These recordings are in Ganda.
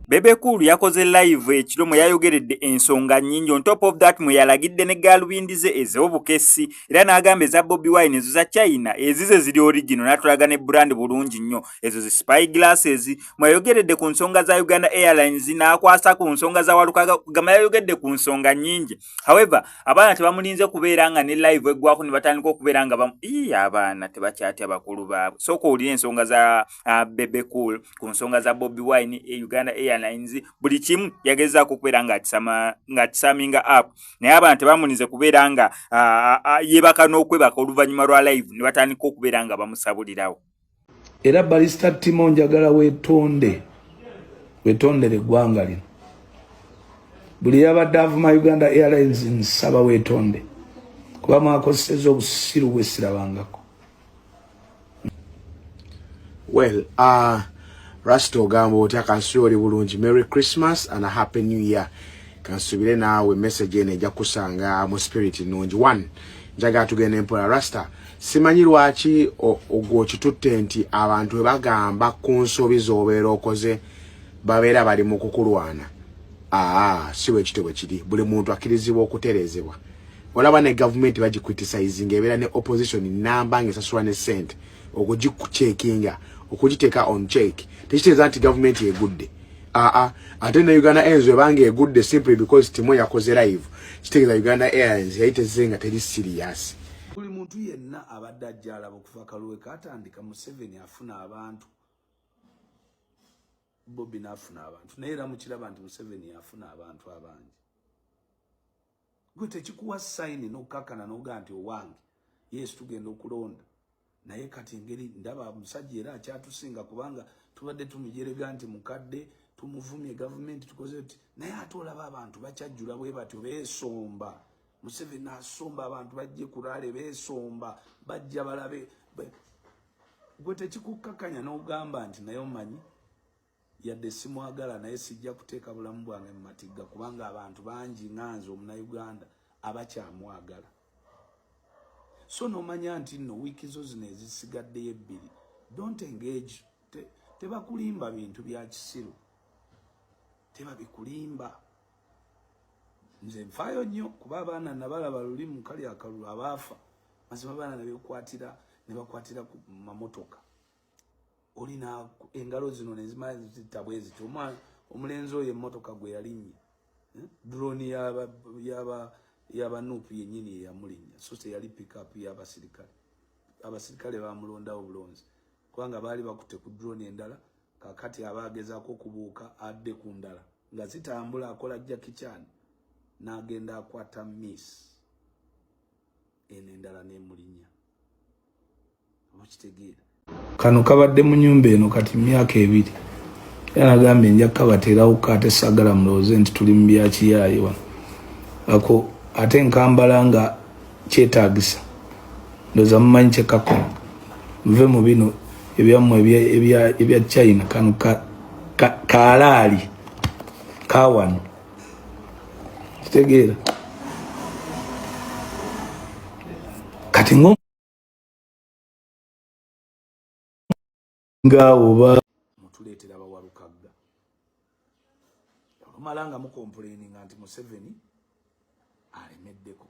Bebe Cool yakoze live ekiro mwe yayogeredde ensonga nnyingi on top of that mwe yalagidde ne gaalubindi ze ez'obukessi era n'agamba eza Bobi Wine ezo za China ezize ziri origino n'atulaga ne brand bulungi nnyo ezo zi spy glasses mweyayogeredde ku nsonga za Uganda Airlines n'akwasa ku nsonga za Walukaga gama yayogedde ku nsonga nnyingi however abaana tebamulinze kubeera nga ne live eggwako ne batandika okubeera nga bamu ii abaana tebakyatya bakulu baabwe sooka owulire ensonga za uh, Bebe Cool ku nsonga za Bobi Wine e Uganda Airlines buli kimu yagezaako okubeera ng'akisaminga app naye abaana tebamulinze kubeera nga uh, uh, yeebaka n'okwebaka oluvannyuma lwa live ne batandika okubeera nga bamusabulirawo era balista timo njagala wetonde wetondere eggwanga lino buli yabadde avuma uganda airlines nsaba wetonde kuba mwakozeseza obusiru bwesirabangako well uh, rasta ogamba otya kansi oli bulungi merry christmas and a happy new year kansubire naawe message eno eja kusanga mu spirit nungi one njagala tugenda empola rasta simanyi lwaki ogwo okitutte nti abantu bwe bagamba ku nsobi z'obeera okoze babeera bali mu kukulwana aa si bwe kityo bwe kiri buli muntu akkirizibwa okutereezebwa olaba ne gavumenti bagikritisayizinga ebeera ne opposition namba nga esasulwa ne sente okugikukyekinga okugiteeka on check tekitegeeza nti gavumenti egudde aa ah, ah. ate ne uganda airlines webanga egudde simply because timo yakoze live kitegeeza uganda airlines yali tezze nga teri serious buli muntu yenna abadde ajja alaba okuva kaluwe katandika museveni afuna abantu bobi naafuna abantu naye era mukiraba nti museveni yafuna abantu abangi gwe tekikuwa sayini n'okukakkana n'ogaa nti owange yesu tugenda okulonda naye kati engeri ndaba omusajja era akyatusinga kubanga tubadde tumujerega nti mukadde tumuvumye gavumenti tukoze ti naye ate olaba abantu bakyajjula bwe batyo beesomba museveni asomba abantu bajje kuraale beesomba bajja balabe gwe tekikukkakanya n'ogamba nti naye omanyi yadde simwagala naye sijja kuteeka bulamu bwange mu matigga kubanga abantu bangi nganze omunauganda abakyamwagala so nomanya nti nno wiiki zo zino ezisigaddeyo ebbiri don't engage tebakulimba te bintu bya kisiru tebabikulimba nze nfaayo nnyo kuba abaana nabalaba luli mu kali akalulu abaafa mazima abaana nebekwatirq nebakwatira ku mamotoka olina engalo zino nezimala zitta bwe ziti omwana omulenzi oyo emmotoka gwe yalinnya eh? droni yaba nuupu yennyini yeyamulinnya so teyali pikapu y'abasirikale abasirikale bamulondawo bulonzi kubanga baali bakutte ku droni endala kakati aba agezaako okubuuka adde ku ndala nga zitambula akola jakichani n'agenda akwata miss eno endala n'emulinnya kano kabadde mu nyumba eno kati myaka ebiri era nagambye nja kukabateerawo ko ate sagala mulowooze nti tuli mu byakiyaaye wano ako ate nkambala nga kyetagisa ndoza mumanyi kyekako nve mu bino ebyammwe ebya china kano kaalaali kawano kitegeera kati nga oba mutuleetera bawalukagga olumala nga mukompuleninga nti museveni alemeddeko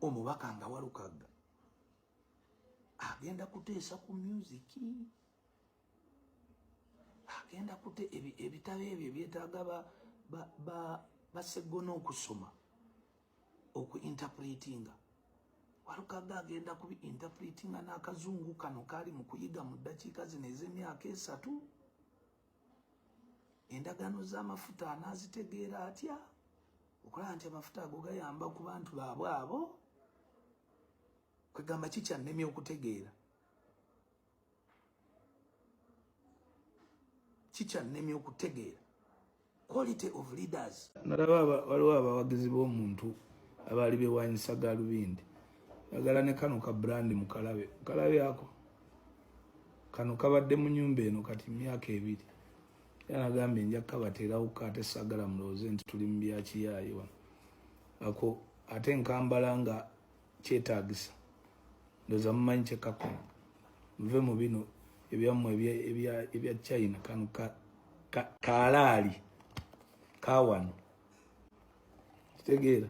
omubaka nga walukagga agenda kuteesa ku myuziki agenda kute ebitabo ebyo ebyetaaga baseggona okusoma oku interpretinga walukaga agenda kubi interpretinga n'akazungu kano kaali mu kuyiga mu ddakiika zino ez'emyaka esatu endagaano z'amafuta anaazitegeera atya okulaba nti amafuta ago gayamba ku bantu baabwe abo kwegamba kikyannemye okutegeera kikyannemye okutegeera quality of leaders nalaba waliwo abawagizi b'omuntu abaali bewanyisa galubindi agala ne kano ka brand mukalabe mukalabe ako kano kabadde mu nyumba eno kati myaka ebiri yanagambye nja kukabateerawo ko ate sagala mulowooze nti tuli mu byakiyaayi wano ako ate nkambala nga kyetagisa ndoza mumanyi kyekakola muve mu bino ebyammwe ebya china kano kalaali kawano kitegeera